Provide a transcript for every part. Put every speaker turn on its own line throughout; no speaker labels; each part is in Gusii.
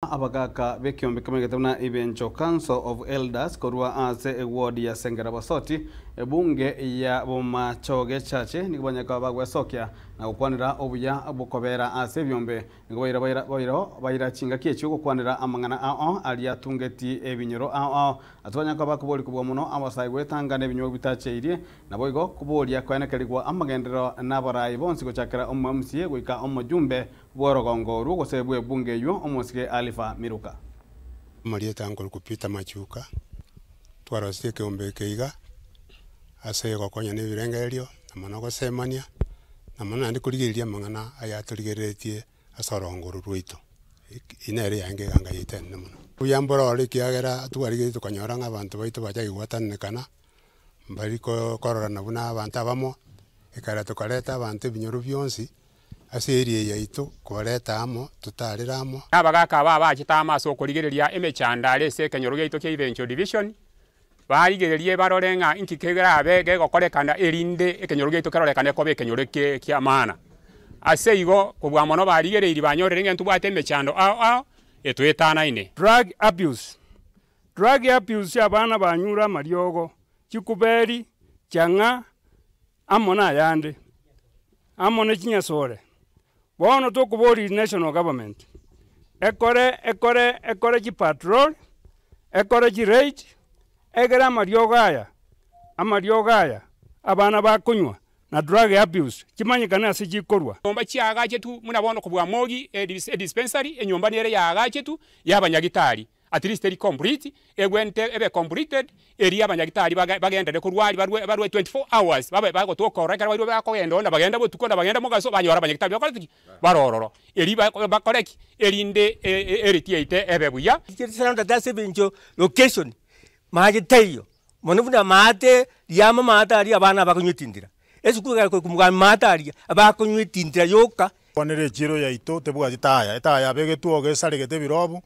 Abagaaka b'ekeombe kemegete buna Ibencho, Council of Elders, korwa ase ewood ya Sengera Bosoti, ebunge ya Bomachoge Chache, nigo banyakaba bagwesokia na gokwanera obuya bw'okobera ase ebiombe. Nigo baira baira bairo baira chingaki echio gokwanera amang'ana ao aria atungeti ebinyoro ao ao. Ase banyakaba koboria kobua mono abasae gwetanga n'ebinywa bitacheirie, naboigo koboria koenekerigwa amagenderero n'abarai bonsi gochakera omomc goika omojumbe Bw'orogongo orwo gose bw'ebungo eywo, omosike Alifa Miluka. Omorieta
nkorokwa Peter Machuka, twarosirie ekeombe eke iga ase gokonya na ebirengererio na mono gosemania na mono naende korigereria amang'ana ayatorigereretie ase orogongo oro rwaito. Eki, eye nere yaenga eganga yaito enene mono. Mbuya mbororo ekiagera twarigeretie tokonyora ng'a abanto baito bachaka gwatananekana, mbari ko kororana buna abanto abamo, ekero tokareta abanto ebinyoro bionsi. Ase eria yaito kobareta amo, totarere amo. Nabagaaka aba abachete
amo ase okorigereria emechando are ase ekenyoro giaito kia Ivenco Division, barigererie barore ng'a inki kerabe gegokorekana erinde ekenyoro giaito kerorekane koba ekenyoro ki'amana. Ase igo, kobua mono barigereirie banyorire ng'a ntobwate emechando ao ao etoetanaine. Drug Abuse,
Drug abuse y'abana banyure amariogo, chikuberi, chang'a, amo nayande, amo ne chinyasore, bono tokoboria national government ekore ekore ekore chipatrol, ekore chiraid, egere amariogo aya, amariogo aya abana bakonywa na drug abuse chimanyekane ase chikorwa. Nyomba chiagachetu
buna bono kobua Mogi, edispensary, enyomba nere yaagachetu ya abanyagitari. at least eri complete, egwente ebe completed eria abanyagitari bagenderere korwa aria barwe barwe 24 hours babe bagotoka ororo ekero bairwe bakogenda ororo nabagende botuko nabagende mogaso banyore abanyagitari bakorete ki? Bare ororo eri bakore ki? Erinde earity yaito ebe buya. Chisarantate ase ebencho
location maate taiyo mono buna maate riamo maate aria abana bakonywa etindira. Yesu kwegera kore komogambia maata aria, abakonywa etintira yoka. Kwanera echiiro yaito
tebwati taya, etaya yabegetwe oga esaregete ebirobu,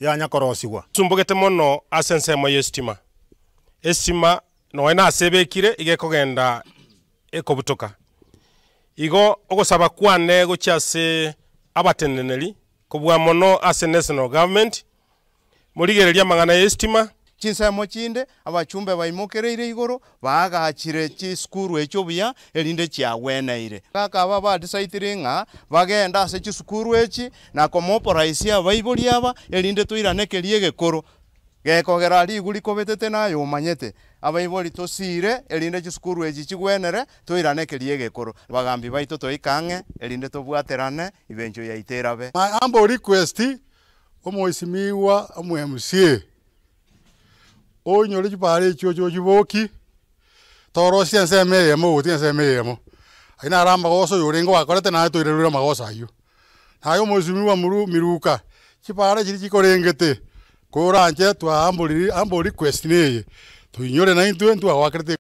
yanya korosigwa. Esumbogete mono
ase ensemo y'esitima. Esitima nonya nase ebekire iga ekogenda ekobutoka. Igo ogosaba kwane gochia ase abateneneri kobua mono ase National Government Morigererie amang'ana y'esitima. Chinsemo chinde,
abachumbe baimokereire igoro, baagachire chisukuru echio buya, erinde chiagweneire. Akaba abadisaitiri ng'a bagende ase chisukuru echi, na komoporaisia abaibori aba, erinde toirane keria egekoro, gekogera rigwa rikobetete na aye omanyete. Abaibori tosiire, erinde chisukuru echi chigwenere, toirane keria egekoro. Bagambi baito toika ang'e, erinde tobwaterane, ibencho yaito erabe. My humble request,
Omoisimigwa omwemusie, onyore chibare echio oche ochiboki, torosie ensemo eyemo ogotiga ensemo eyemo. Aye naro amagoso oyo orenge oakorete naye toirerure amagoso ayio. Naye omoisimigwa muru miruka, chibare chiri chikorengete, koranche twaamboriri ambori request neye, toinyore naintwe ntwe agoakerete.